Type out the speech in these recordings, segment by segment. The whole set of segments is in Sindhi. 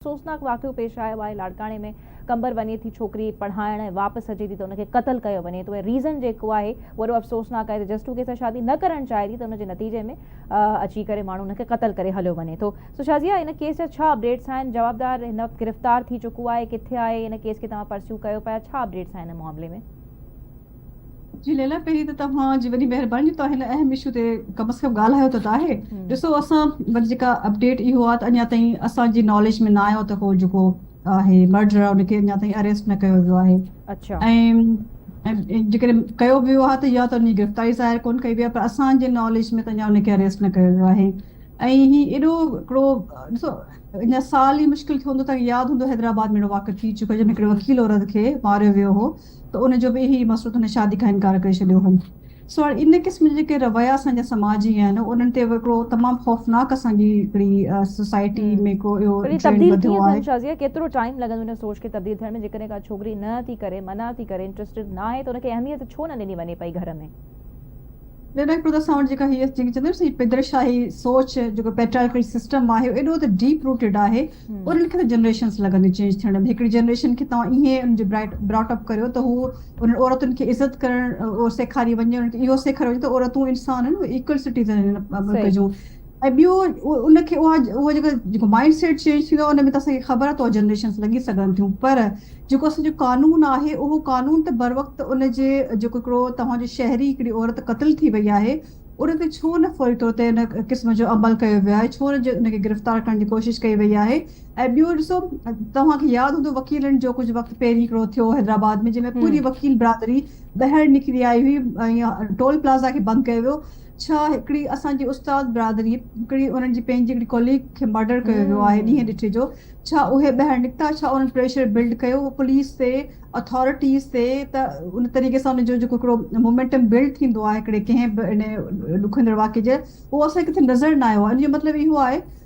افسوسناڪ واقعو پيش آيو آهي لاڙڪاڻي ۾ قمبر وڃي ٿي ڇوڪري پڙهائڻ ۽ واپس اچي ٿي ته ان کي قتل ڪيو وڃي ٿو ۽ ريزن جيڪو آهي اهو ايڏو افسوسناڪ آهي ته جسٽ ڪي سان شادي نه ڪرڻ چاهي ٿي ته ان جي نتيجي ۾ اچي ڪري ماڻهو ان کي قتل ڪري هليو وڃي ٿو سو شازيا ان ڪيس جا ڇا اپڊيٽس آهن جوابدار هن وقت گرفتار ٿي چڪو آهي ڪٿي آهي ان ڪيس کي توهان پرسيو ڪيو پيا ڇا اپڊيٽس آهن ان معاملي ۾. جي ليلا پهرين ته توهان جي وڏي مهرباني جو توهان هن اهم اشو تي ڪم از ڪم ڳالهايو ته آهي ڏسو اسان وٽ جيڪا اپڊيٽ اهو آهي ته اڃا تائين اسان جي ناليج ۾ نه آيو ته هو جيڪو آهي مرڊرر ان کي اڃا تائين اريسٽ نه ڪيو ويو آهي اڇا ۽ جيڪڏهن ڪيو به ويو آهي ته يا ته ان جي گرفتاري ظاهر ڪون ڪئي ويا پر اسان جي ناليج ۾ ته اڃا ان کي اريسٽ نه ڪيو ويو آهي ۽ هي ايڏو هڪڙو ڏسو اڃا سال ئي مشڪل ٿيو هوندو توهان کي ياد هوندو حيدرآباد ۾ اهڙو واقعو ٿي چڪو جنهن ۾ هڪڙي وڪيل عورت کي ماريو ويو هو ته ان جو به اهي ئي مسئلو ته هن شادي کان انڪار ڪري ڇڏيو هو. سو هاڻي ان قسم جا جيڪي رويا اسان جا سماجي آهن انهن تي هڪڙو تمام خوفناڪ اسان جي هڪڙي سوسائٽي ۾ هڪڙو اهو ٽرينڊ وڌو آهي. شازيه ڪيترو ٽائيم لڳندو ان سوچ کي تبديل ٿيڻ ۾ جيڪڏهن ڪا ڇوڪري نه ٿي ڪري منع ٿي ڪري انٽرسٽيڊ ناهي ته ان کي اهميت ڇو نه ڏني وڃي پئي گهر ۾. ٻيو ڏاڪٽر ته اسان وٽ جيڪا هيء جيڪي چوندو آهيو سي پدرشاهي سوچ جيڪو پيٽرائيڪل سسٽم آهي ايڏو ته ڊيپ روٽيڊ آهي انهن کي ته جنريشنز لڳنديون چينج ٿيڻ ۾ هڪڙي جنريشن کي توهان ايئن ان جي براٽ اپ ڪريو ته هو انهن عورتن کي عزت ڪرڻ سيکاري وڃي انهن کي اهو سيکاريو وڃي ته عورتون انسان آهن ايڪول سٽيزن آهن ملڪ جون ۽ ٻيو ان کي اها اهو جيڪو جيڪو مائنڊ سيٽ چينج ٿيندو ان ۾ ته اسان کي خبر آهي ته جنريشنس لڳي سگهن ٿيون پر جيڪو اسان جو قانون آهي اهو قانون ته بروقت ان جي جيڪو هڪڙو توهان جو شهري هڪڙي عورت قتل ٿي وئي آهي ان تي ڇو نه فوري طور تي ان قسم جو عمل ڪيو ويو آهي ڇو نه ان کي گرفتار ڪرڻ جي ڪوشش ڪئي وئي آهي ۽ ٻيو ڏسو توهان کي ياد هوندو وڪيلن جو ڪجهه وقت پهرين هڪڙو ٿيو حيدرآباد ۾ جنهن ۾ پوري وڪيل برادري ٻاهر نڪري آئي هئي ٽول پلازا کي بند ڪيو ويو ڇا هڪڙي اسان جي استاد برادري هڪڙي انهن جي پنهنجي هڪڙي ڪوليگ کي مرڊر ڪيو ويو آهي ڏينهن ڏٺي جو ڇا اهي ٻاهر نڪتا ڇا انهن پريشر بلڊ ڪيو پوليس تي اٿارٽيز تي ته ان طريقي سان ان جو جيڪو هڪڙو مومينٽم بلڊ ٿيندو آهي هڪڙي ڪنهن به ان ڏکوئيندڙ واقعي جي اهو اسان کي ڪٿي نظر نه آيو آهي ان جو مطلب اهو آهي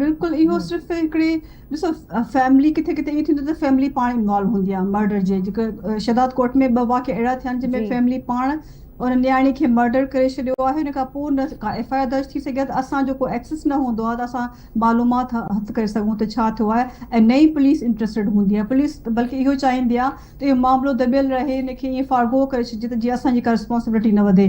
بلڪل اهو صرف هڪڙي ڏسو فيملي ڪٿي ڪٿي ايئن ٿيندو ته فيملي پاڻ انوالو هوندي آهي مرڊر جي جيڪا شهداد ڪوٽ ۾ ٻه واقعا اهڙا ٿيا آهن جن ۾ فيملي پاڻ ان نياڻي کي مرڊر ڪري ڇڏيو آهي ان کان پوء نه ڪا ايف آء آر درج ٿي سگهي ته اسان جو ڪو ايڪسس نه هوندو آهي ته اسان معلومات هٿ ڪري سگهون ته ڇا ٿيو آهي ۽ نه ئي پوليس انٽرسٽيڊ هوندي آهي پوليس بلڪ اهو چاهيندي آهي ته اهو معاملو دٻيل رهي ان کي ايئن فارغو ڪري ڇڏجي ته جيئن اسان جي ڪا رسپانسبلٽي نه وڌي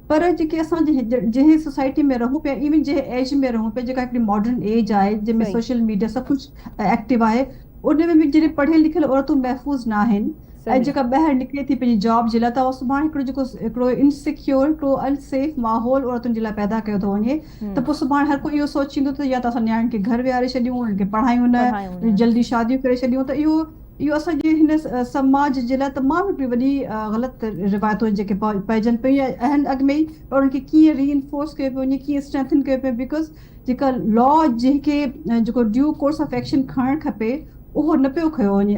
پر جيڪي اسان جنهن سوسائٽي ۾ رهون پيا ايون جنهن ايج ۾ رهون پيا جيڪا هڪڙي ماڊرن ايج آهي جنهن ۾ سوشل ميڊيا سڀ ڪجهه ايڪٽو آهي ان ۾ به جڏهن پڙهيل لکيل عورتون محفوظ نه آهن ۽ جيڪا ٻاهر نڪري ٿي پنهنجي جاب جي لاء ته اهو سڀاڻي هڪڙو جيڪو هڪڙو انسيڪيور هڪڙو ان سيف ماحول عورتن جي لاء پيدا ڪيو ٿو وڃي ته پوء سڀاڻي هر ڪو اهو سوچيندو ته يا ته اسان نياڻين کي گهر ويهاري ڇڏيون انهن کي پڙهايون نه جلدي شاديون ڪري ڇڏيون ته اهو اهو اسان جي هن سماج جي لاء تمام هڪڙي وڏي غلط روايتون آهن جيڪي پئجن پيون يا اهن اڳ ۾ ئي پر انهن کي ڪيئن ري انفورس ڪيو پيو وڃي ڪيئن اسٽرينٿن ڪيو پيو بيڪاز جيڪا لا جنهن کي جيڪو ڊيو ڪورس آف ايڪشن کڻڻ کپي اهو نه پيو کنيو وڃي